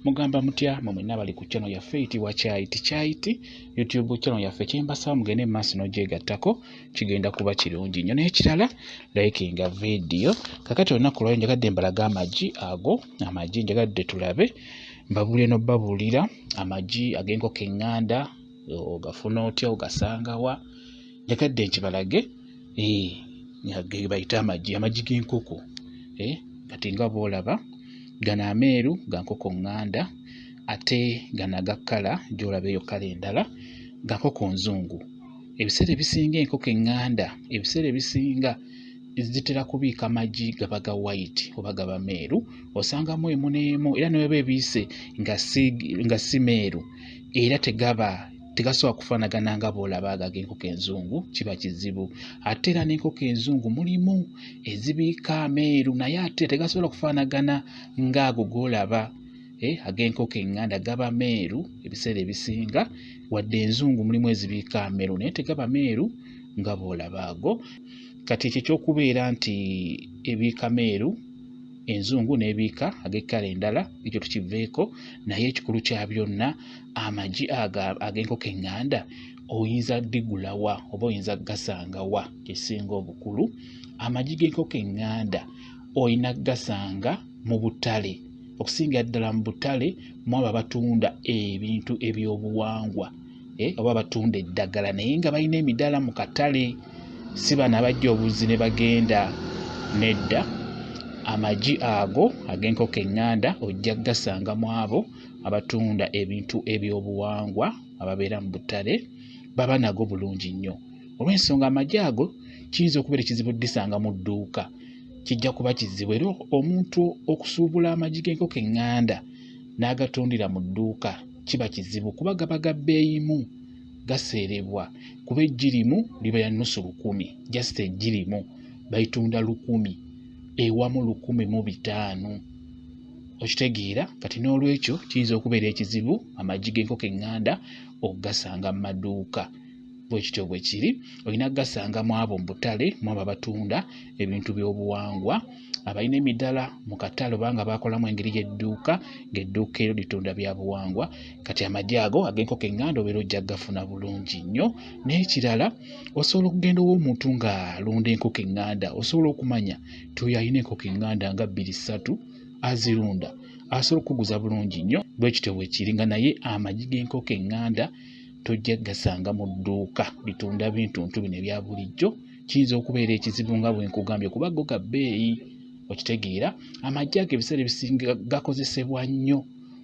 mugamba mutya mwe mwenna bali ku channel yaffe eyitibwa kyayiti kyayiti youtube channel yaffe kyembasaba mugende mu maaso n'ogyegattako kigenda kuba kirungi nnyo n'ekirala likinga vidiyo kakati olunaku lwayo njagadde mbalaga amagi ago amagi njagadde tulabe mbabuulire n'obabuulira amagi ag'enkoko eŋŋanda ogafuna otya ogasangawa njagadde nkibalage gebayita amagi amagi g'enkoko kati nga boolaba gano ameeru ga nkoko ŋŋanda ate gano aga kkala gy'olaba eyo kkala endala ga nkoko nzungu ebiseera ebisinga enkoko eŋŋanda ebiseera ebisinga zitera kubiika magi gaba ga white oba gaba meeru osangamu emu n'emu era ne weba ebiise nga si meeru era tegaba tegasobola kufaanagana nga bw'olaba ago ag'enkoko enzungu kiba kizibu ate era n'enkoko enzungu mulimu ezibiika ameeru naye ate tegasobola kufaanagana ng'ago g'olaba eh, ag'enkoko eŋŋanda gaba meeru ebiseera ebisinga wadde enzungu mulimu ezibiika ameeru naye tegaba meeru nga bw'olaba ago kati ekyo ekyokubeera nti ebiika meeru enzungu n'ebiika ag'ekkala endala ekyo tukiveeko naye ekikulu kya byonna amagi ag'enkoko eŋŋanda oyinza digula wa oba oyinza gasanga wa kyesinga obukulu amagi g'enkoko eŋŋanda olina gasanga mu butale okusingira ddala mu butale mwabo abatunda ebintu ebyobuwangwa eh, oba abatunda eddagala naye nga balina emidaala mu katale si bano abajja obuzzi ne bagenda nedda amagi ago ag'enkoko eŋŋanda ojja gasanga mwabo abatunda ebintu ebyobuwangwa ababeera mu butale baba nago bulungi nnyo olw'ensonga amagi ago kiyinza okubeera ekizibu disanga mu dduuka kijja kuba kizibu era omuntu okusuubula amagi g'enkoko eŋŋanda n'agatundira mu dduuka kiba kizibu kuba gaba ga bbeeyimu gaseerebwa kuba eggi limu liba ya nnusu lukumi jasita eggi limu balitunda lukumi ewamu lukumi mu bitaano okitegeera kati n'olwekyo kiyinza okubeera ekizibu amagi g'enkoko eŋŋanda okugasanga mu maduuka bwe kityo bwe kiri olina kugasanga mu abo mu butale mu abo abatunda ebintu by'obuwangwa abalina emiddala mu katale obanga bakolamu engeri y'edduuka ng'edduuka ero litunda bya buwangwa kati amagi ago ag'enkoko eŋŋanda obeera ojja kugafuna bulungi nnyo n'ekirala osobola okugenda ow'omuntu ng'alunda enkoko eŋŋanda osobola okumanya tuyalina enkoko enganda nga bbiri ssatu azirunda asobola okukuguza bulungi nnyo bwe kityo bwe kiri nga naye amagi g'enkoko enganda tojja gasanga mu dduuka litunda bintu ntu bino ebya bulijjo kiyinza okubeera ekizibu nga bwe nkugambye kuba go ga bbeeyi okitegeera amagi ago ebiseera ebisinga gakozesebwa nnyo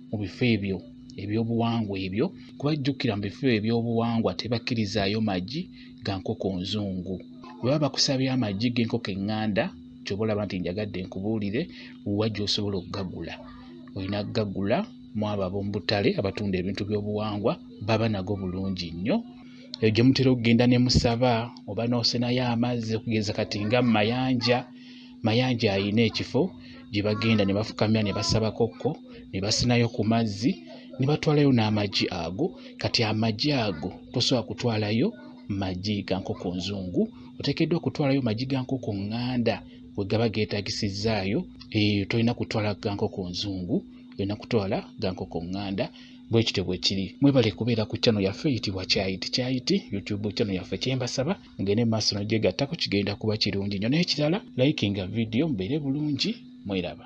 mu bifo ebyo ebyobuwangwa ebyo kuba jjukira mu bifo ebyobuwangwa tebakkirizaayo magi ga nkoko nzungu bwe baba bakusabye amagi g'enkoko eŋŋanda kyoba olaba nti njagadde nkubuulire wa gy'osobola okugagula olina kugagula mu abo ab'omu butale abatunda ebintu by'obuwangwa baba nago bulungi nnyo eyo gye mutera okugenda ne musaba oba n'osenayo amazzi okugeza kati nga mayanja Mayanja alina ekifo gye bagenda ne bafukamira ne basaba kokko ne basinayo ku mazzi ne batwalayo n'amagi ago kati amagi ago tosobola kutwalayo magi ga nkoko nzungu oteekeddwa kutwalayo magi ga nkoko ŋŋanda we gaba geetagisizaayo eyo eh, tolina kutwala ga nkoko nzungu olina kutwala ga nkoko ŋŋanda bwe kityo bwe kiri mwebale kubeera ku channel yaffe eyitibwa kyayiti kyayiti youtube channel yaffe kyembasaba mugende mu maaso nogyegattako kigenda kuba kirungi nyo naye kirala likinga vidiyo mubeere bulungi mweraba